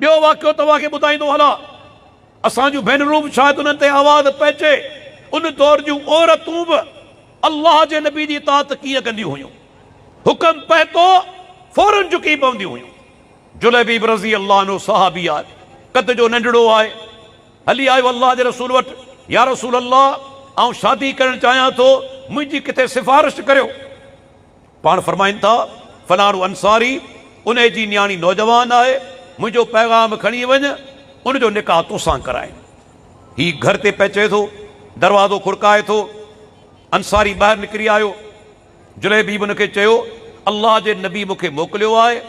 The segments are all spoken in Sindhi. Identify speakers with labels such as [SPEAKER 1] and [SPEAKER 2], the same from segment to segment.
[SPEAKER 1] ٻيو واقعو توهان کي ٻڌائيندو هلان. اسان جون ڀينرون به شايد انهن تي آواز پئجي. ان دور جون عورتون به الله جي نبي جي اطاعت ڪيئن ڪنديون هيون. حڪم پهتو فورن جهڪي پونديون هيون. جليبيب رضي الله عنه صحابي آهي. قد جو ننڍڙو آهي. هلي آيو الله جي رسول وٽ، يا رسول الله! آئون شادي ڪرڻ چاهيان ٿو، منهنجي ڪٿي سفارش ڪريو. پاڻ فرمائن ٿا، فلاڻو انصاري انهي جي نياڻي نوجوان آهي، منهنجو پيغام کڻي وڃ، ان جو نڪاح توسان ڪرائين. هي گهر تي پهچي ٿو، دروازو کڙڪائي ٿو، انصاري ٻاهر نڪري آيو، جليبيب ان کي چيو، الله جي نبي مون کي موڪليو آهي،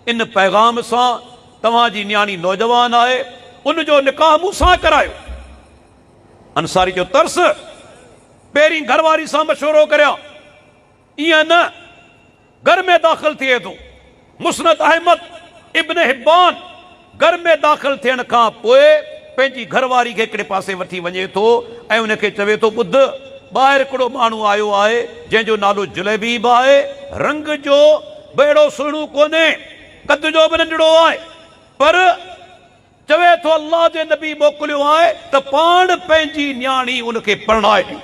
[SPEAKER 1] ان پيغام سان، توهان جي نياڻي نوجوان آهي، ان جو نڪاح مون سان ڪرايو. انصاري چيو، ترس! پهرين گهر واري سان مشورو ڪريان. ائين نه، گهر ۾ داخل ٿئي ٿو. مسند احمد، ابن حبان، گهر ۾ داخل ٿيڻ کان پوء پنهنجي گهر واري کي هڪڙي پاسي وٺي وڃي ٿو ۽ ان کي چوي ٿو، ٻڌ، ٻاهر هڪڙو ماڻهو آيو آهي، جنهن جو نالو جليبيب آهي، رنگ جو به اهڙو سهڻو ڪونهي، قد جو به ننڍڙو آهي، پر. چوي ٿو الله جي نبي موڪليو آهي ته پاڻ پنهنجي نياڻي ان کي پرڻائي ڏيو.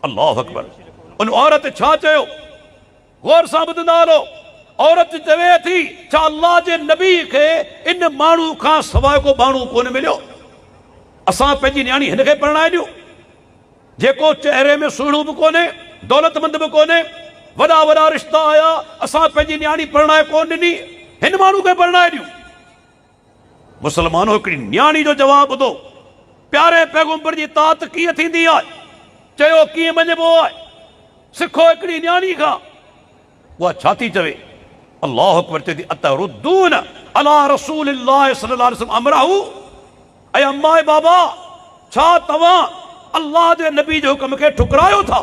[SPEAKER 1] الله اڪبر! ان عورت ڇا چيو؟ غور سان ٻڌندا هلو، عورت چوي ٿي ڇا الله جي نبي کي ان ماڻهو کان سواء ڪو ٻانهو ڪونه مليو؟ اسان پنهنجي نياڻي هن کي پرڻائي ڏيون؟ جيڪو چهري ۾ سهڻو به ڪونهي، دولتمند به ڪونهي، وڏا وڏا رشتا آيا، اسان پنهنجي نياڻي پرڻائي ڪونه ڏني، هن ماڻهو کي پرڻائي ڏيون؟ مسلمانو! هڪڙي نياڻي جو جواب ٻڌو، پياري پيغمبر جي اطاعت ڪيئن ٿيندي آهي؟ چيو ڪيئن مڃبو آهي؟ سکو هڪڙي نياڻي کان، اها ڇا ٿي چوي؟ الله اڪبر چئي ٿي، اتردون علي رسول الله صلي الله عليه وسلم امره، اي اما اي بابا! ڇا توهان الله جي نبي جي حڪم کي ٺڪرايو ٿا؟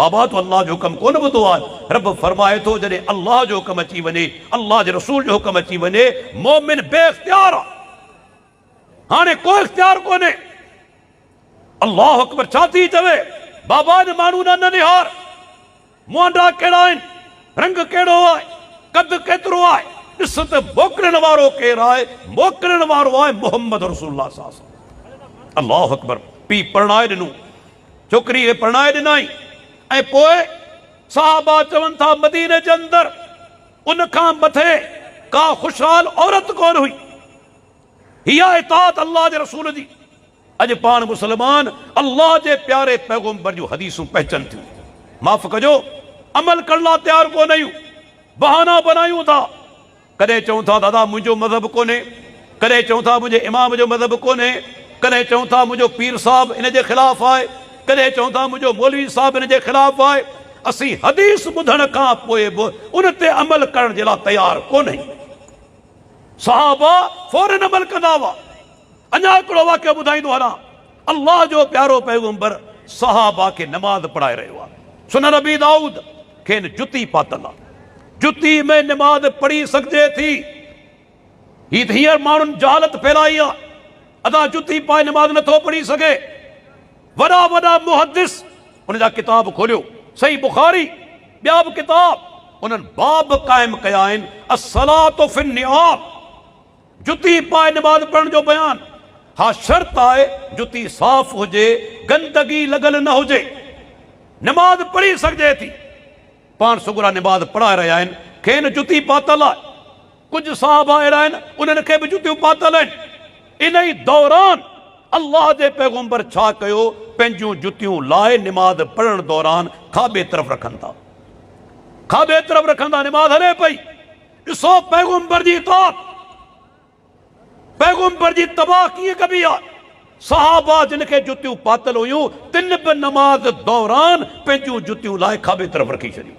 [SPEAKER 1] بابا تو الله جو حڪم ڪونه ٻڌو آهي رب فرمائي ٿو جڏهن الله جو حڪم اچي وڃي الله جي رسول جو حڪم اچي وڃي مؤمن بي اختيار آهي هاڻي ڪو اختيار ڪونهي الله اڪبر ڇا ٿي چوي بابا ان ماڻهو ڏانهن نه نهار موانڊا ڪهڙا آهن رنگ ڪهڙو آهي قد ڪيترو آهي ڏس ته موڪلڻ وارو ڪير آهي موڪلڻ وارو آهي محمد رسول الله صلي الله عليه وسلم الله اڪبر پيء پرڻائي ڏنو ڇوڪري کي پرڻائي ڏنائين ۽ پوء صحابه چون ٿا مديني جي اندر ان کان مٿي ڪا خوشحال عورت ڪونه هئي. هيء اطاعت الله جي رسول جي. اڄ پاڻ مسلمان الله جي پياري پيغمبر جون حديثون پهچن ٿيون. معاف ڪجو عمل ڪرڻ لاء تيار ڪونه آهيون. بهانا بنايون ٿا. ڪڏهن چون ٿا دادا منهنجو مذهب ڪونهي، ڪڏهن چون ٿا منهنجي امام جو مذهب ڪونهي، ڪڏهن چون ٿا منهنجو پير صاحب ان جي خلاف آهي، ڪڏهن چون ٿا منهنجو مولوي صاحب ان جي خلاف آهي، اسين حديث ٻڌڻ کان پوء به ان تي عمل ڪرڻ جي لاء تيار ڪونهيون. صحابه فورن عمل ڪندا هئا. اڃا هڪڙو واقعو ٻڌائيندو هلان، الله جو پيارو پيغمبر صحابه کي نماز پڙهائي رهيو آهي، سنن ابي دائود، کين جتي پاتل آهي، جتي ۾ نماز پڙهي سگهجي ٿي، هي ته هينئر ماڻهن جهالت ڦيلائي آهي، ادا جتي پائي نماز نٿو پڙهي سگهي، وڏا وڏا محدث ان جا ڪتاب کوليو، صحيح بخاري، ٻيا به ڪتاب، انهن باب قائم ڪيا آهن، الصلوة في النعال. جتي پائي نماز پڙهڻ جو بيان، ها شرط آهي جتي صاف هجي، گندگي لڳل نه هجي، نماز پڙهي سگهجي ٿي. پاڻ سڳورا نماز پڙهائي رهيا آهن، کين جتي پاتل آهي. ڪجهه صحابه اهڙا آهن انهن کي به جتيون پاتل آهن. انهي دوران الله جي پيغمبر ڇا ڪيو، پنهنجيون جتيون لاهي نماز پڙهڻ دوران کاٻي طرف رکن ٿا. کاٻي طرف رکندا نماز هلي پئي. ڏسو پيغمبر جي اطاعت پيغمبر جي تباهه ڪيئن ڪبي آهي صحابه جن کي جتيون پاتل هيون تن به نماز دوران پنهنجون جتيون لاهي کاٻي طرف رکي ڇڏيون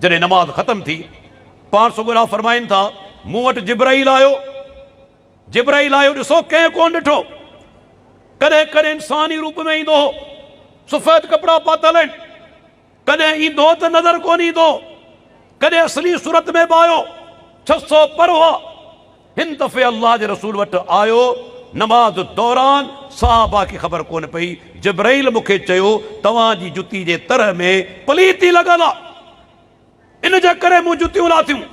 [SPEAKER 1] جڏهن نماز ختم ٿي پاڻ سڳورا فرمائن ٿا مون وٽ جبرائيل آيو جبرائيل آيو ڏسو ڪنهن ڪون ڏٺو ڪڏهن ڪڏهن انساني روپ ۾ ايندو هو سفيد ڪپڙا پاتل آهن ڪڏهن ايندو ته نظر ڪونه ايندو، ڪڏهن اصلي صورت ۾ به آيو، ڇهه سؤ پر هئا. هن دفعي الله جي رسول وٽ آيو، نماز دوران صحابه کي خبر ڪونه پئي، جبرئيل مون کي چيو، توهان جي جتي جي تره ۾ پليتي لڳل آ، ان جي ڪري مون جتيون لاٿيون،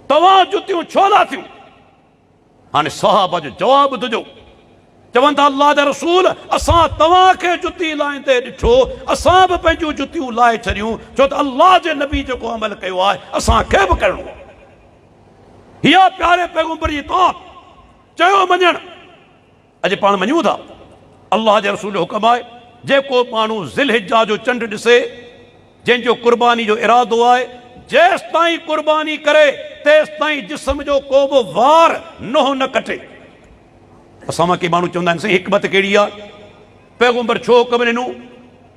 [SPEAKER 1] توهان جتيون ڇو لاٿيون؟ هاڻي صحابه جو جواب ٻڌجو، چون ٿا، الله جا رسول! اسان توهان کي جتي لائيندي ڏٺو، اسان به پنهنجون جتيون لاهي ڇڏيون، ڇو ته الله جي نبي جيڪو عمل ڪيو آهي، اسان کي به ڪرڻو آهي. هيء پياري پيغمبر جي اطاعت، چيو مڃڻ. اڄ پاڻ مڃون ٿا الله جي رسول جو حڪم آهي جيڪو ماڻهو ذي الحجه جو چنڊ ڏسي جنهن جو قرباني جو ارادو آهي جيستائين قرباني ڪري تيستائين جسم جو ڪو به وار نوح نه ڪٽي. اسان مان ڪي ماڻهو چوندا آهن سائين حڪمت ڪهڙي آهي پيغمبر ڇو حڪم ڏنو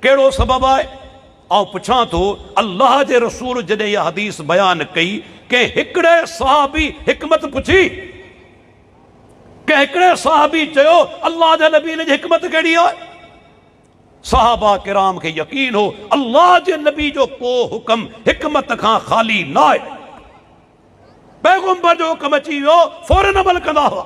[SPEAKER 1] ڪهڙو سبب آهي آئون پڇان ٿو الله جي رسول جڏهن اها حديث بيان ڪئي ڪنهن هڪڙي صحابي حڪمت پڇي ڪنهن هڪڙي صحابي چيو، الله جي نبي ان جي حڪمت ڪهڙي آهي؟ صحابه ڪرام کي يقين هو الله جي نبي جو ڪو حڪم حڪمت کان خالي ناهي. پيغمبر جو حڪم اچي ويو فورن عمل ڪندا هئا.